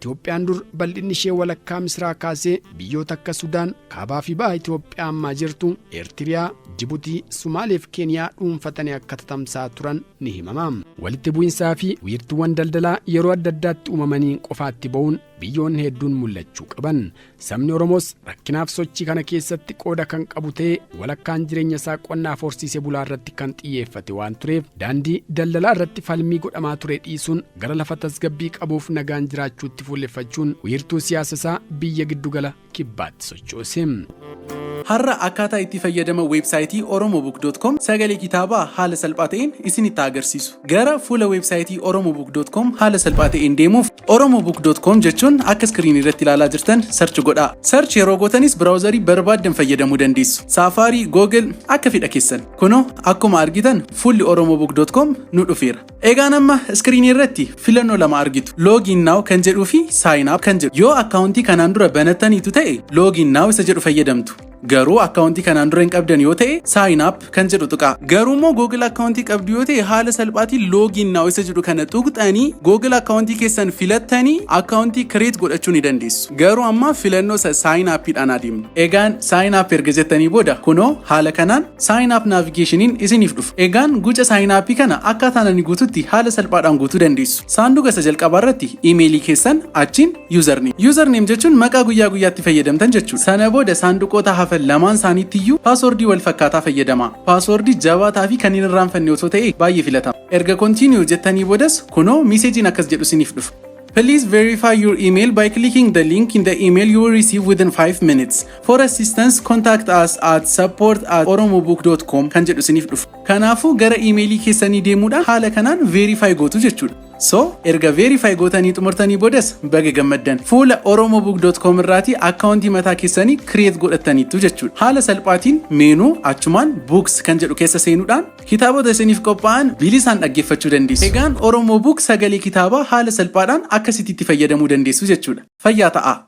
Itoophiyaan dur bal'inni ishee walakkaa Misiraa kaasee biyyoota akka Sudaan, Kaabaa fi Baha Itoophiyaa ammaa jirtu, Eertiriyaa, Jibutii, Sumaalee fi Keeniyaa dhuunfatanii akka tatamsa'aa turan ni himama. Walitti bu'insaa fi wiirtuuwwan daldalaa yeroo adda addaatti uumamaniin qofaatti ba'uun biyyoonni hedduun mul'achuu qaban. Sabni Oromoos rakkinaaf sochii kana keessatti qooda kan qabu ta'ee walakkaan jireenya isaa qonnaaf horsiisee bulaa irratti kan xiyyeeffate waan tureef daandii daldalaa irratti falmii godhamaa ture dhiisuun gara lafa tasgabbii qabuuf nagaan jiraachuutti fuulleffachuun wiirtuu siyaasa isaa biyya giddugala kibbaatti sochoose. Har'a akkaataa itti fayyadama weebsaayitii oromobook.com sagalee kitaabaa haala salphaa ta'een isinitti agarsiisu. Gara fuula weebsaayitii oromobook.com haala salphaa ta'een deemuuf oromobook.com jechuun akka iskiriinii irratti ilaalaa jirtan sarchi godhaa. Sarchi yeroo gootanis biraawuzarii barbaaddan fayyadamuu dandeessu. Saafaarii, Google akka fedha keessan. Kunoo akkuma argitan fuulli oromobook.com nu dhufeera. Egaan amma iskiriinii irratti filannoo lama argitu. Login now kan jedhuu fi sign up kan jedhu. Yoo akkaawuntii kanaan dura banattaniitu ta'e login now isa jedhu fayyadamtu. Garuu akkaawuntii kanaan dura hin qabdan yoo ta'e sign up kan jedhu tuqaa. Garuu immoo Google akkaawuntii qabdu yoo ta'e haala salphaatiin login now isa jedhu kana tuqxanii Google akkaawuntii keessan filattanii akkaawuntii create godhachuu ni dandeessu. Garuu amma filannoo isa sign up dhaan adeemna. Egaan sign up erga jettanii booda kunoo haala kanaan sign up navigationin isiniif dhufa. Egaan guca sign up kana akkaataan ani guututti haala salphaadhaan guutuu dandeessu. Saanduqa isa jalqabaa irratti imeelii keessan achiin Username. Username jechuun maqaa guyyaa guyyaatti fayyadamtan jechuudha. Sana booda saanduqoota hafan lamaan isaaniitti iyyuu paaswordii wal fakkaataa fayyadamaa. Paaswordii jabaataa fi kan hin irraanfanne osoo ta'e baay'ee filatama. Erga continue jettanii boodas kunoo miiseejiin akkas jedhu isiniif dhufa. Please verify your email by clicking the link in the email you will receive within 5 minutes. For assistance, contact us at support at oromobook.com kan jedhu isiniif dhufa. Kanaafuu gara iimeelii keessanii deemuudhaan haala kanaan verify gootu jechuudha. So erga verify gootanii xumurtanii boodas baga gammaddan fuula oromobook.com irraatii akkaawuntii mataa keessanii create godhattaniittu jechuudha. Haala salphaatiin meenuu achumaan books kan jedhu keessa seenuudhaan kitaabota isiniif qophaa'an bilisaan dhaggeeffachuu dandeessu. Egaan Oromo Book sagalee kitaabaa haala salphaadhaan akkasitti itti fayyadamuu dandeessu jechuudha. Fayyaa ta'aa!